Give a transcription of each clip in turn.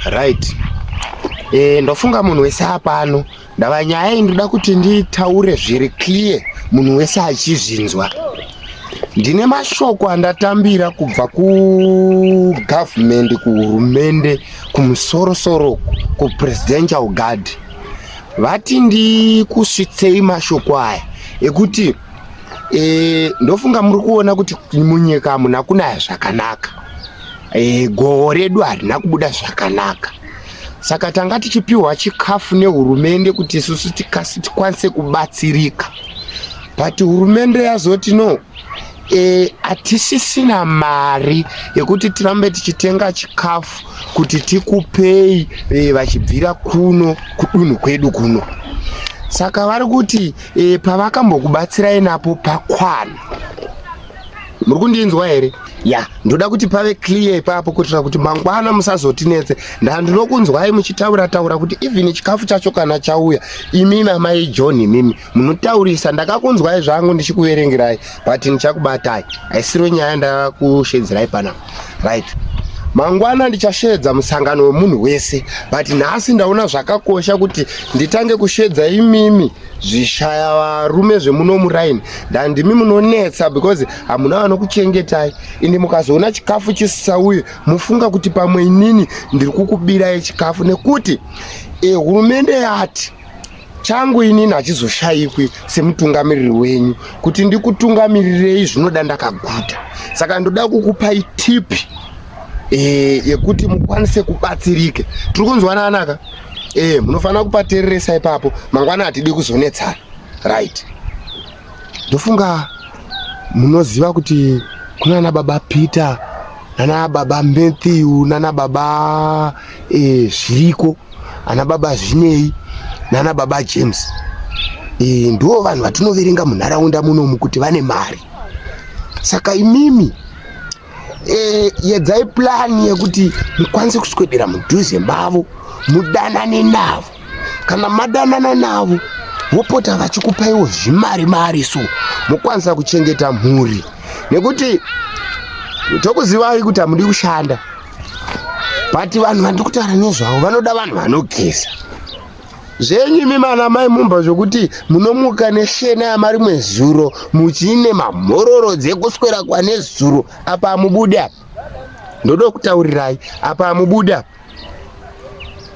right e, ndofunga munhu wese apano ndava nyaya iyi ndoda kuti nditaure zviri clear munhu wese achizvinzwa ndine mashoko andatambira kubva kugavhumendi kuhurumende kumusorosoro kupresidential guard vati ndikusvitsei mashoko aya ekuti e, ndofunga muri kuona kuti munyika hamuna kunaya zvakanaka e, goho redu harina kubuda zvakanaka saka tanga tichipiwa chikafu nehurumende kuti isusu tikwanise kubatsirika but hurumende yazoti no e, hatisisina mari yekuti tirambe tichitenga chikafu kuti tikupei e, vachibvira kuno kudunhu kwedu kuno saka vari kuti e, pavakambokubatsirai napo pakwana muri kundinzwa here ya yeah. ndoda kuti pave clear ipapo kuitira kuti mangwana musazotinetse ndaa ndinokunzwai muchitaura taura kuti even chikafu chacho kana chauya imimi amai john imimi munotaurisa ndakakunzwai zvangu ndichikuverengerai but ndichakubatai aisiro nyaya ndakushedzirai panapa right mangwana ndichasheedza musangano wemunhu wese but nhasi ndaona zvakakosha kuti nditange kusheedza imimi zvishaya varume zvemuno muraini ndandimi munonetsa because hamuna vanokuchengetai indi mukazoona chikafu chisisauye mufunga kuti pamwe inini ndiri kukubirai chikafu nekuti eh, hurumende yati changu inini hachizoshayikwi semutungamiriri wenyu kuti ndikutungamirirei zvinoda ndakaguta saka ndoda kukupai tipi e, eh, yekuti mukwanise kubatsirike tiri kunzwananaka e, eh, munofanira kupatereresa ipapo mangwana hatidi kuzonetsana right ndofunga munoziva kuti kunana baba peter nana baba matthew nana baba e, zviriko ana baba zvinei nana baba james e, ndiwo vanhu vatinoverenga munharaunda munomu kuti vane mari saka imimi eh, yedzai plani yekuti mukwanise kuswedera mudhuze mavo mudanane navo kana madanana navo vopota vachikupaiwo zvimari mari so mokwanisa kuchengeta mhuri nekuti tokuzivai kuti hamudi kushanda but vanhu vandiri kutaura nezvavo vanoda vanhu vanogeza zvenyu imi mana mai mumba zvokuti munomuka neshena yamari mwezuro muchiine mamhororo dzekuswera kwanezuro apa amubude apa ndoda kutaurirai apa amubude apa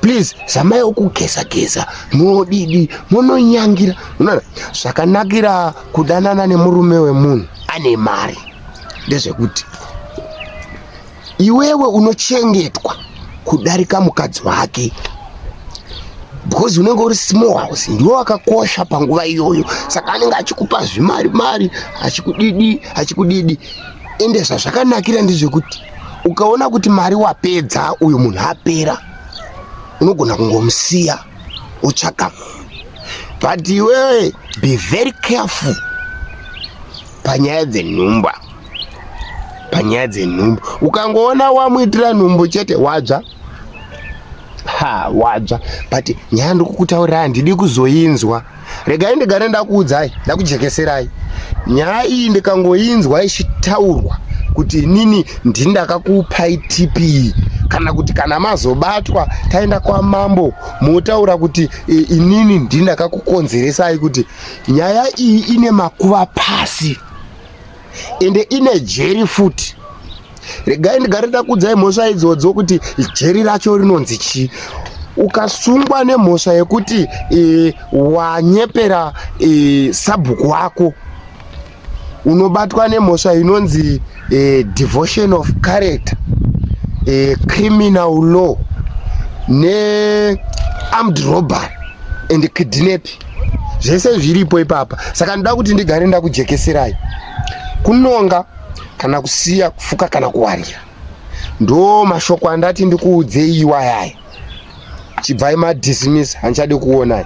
please zamai ukugeza geza modidi mononyangira unoona zvakanakira kudanana nemurume wemunhu ane mari ndezvekuti iwewe unochengetwa kudarika mukadzi wake because unenge uri small house ndiwo wakakosha panguva iyoyo saka anenge achikupa zvimari mari achikudidi achikudidi ende zvazvakanakira ndezvekuti ukaona kuti mari wapedza uyu munhu apera unogona kungomusiya utsvaka but iwewe be very careful panyaya dzenhumba panyaya dzenhumbu ukangoona wamuitira nhumbu chete wadzva ha wadzva but nyaya ndikukutaurira handidi kuzoinzwa regai ndigare ndakuudzai ndakujekeserai nyaya iyi ndikangoinzwa ichitaurwa kuti inini ndini ndakakupai tp kana kuti kana mazobatwa taenda kwamambo motaura kuti e, inini ndini ndakakukonzeresai kuti nyaya iyi ine makuva pasi ende ine jeri futi regai ndigare ndakudzai mhosva idzodzo kuti jeri racho rinonzi chii ukasungwa nemhosva yekuti e, wanyepera e, sabhuku wako unobatwa nemhosva inonzi e, devotion of character e, criminal law nearmed robbery and kidnapping zvese zviripo ipapa saka ndoda kuti ndigare ndakujekeserai kunonga kana kusiya kufuka kana kuwanira ndo mashoko andati ndikuudzei iwayaya chibvai madismiss handichade kuonai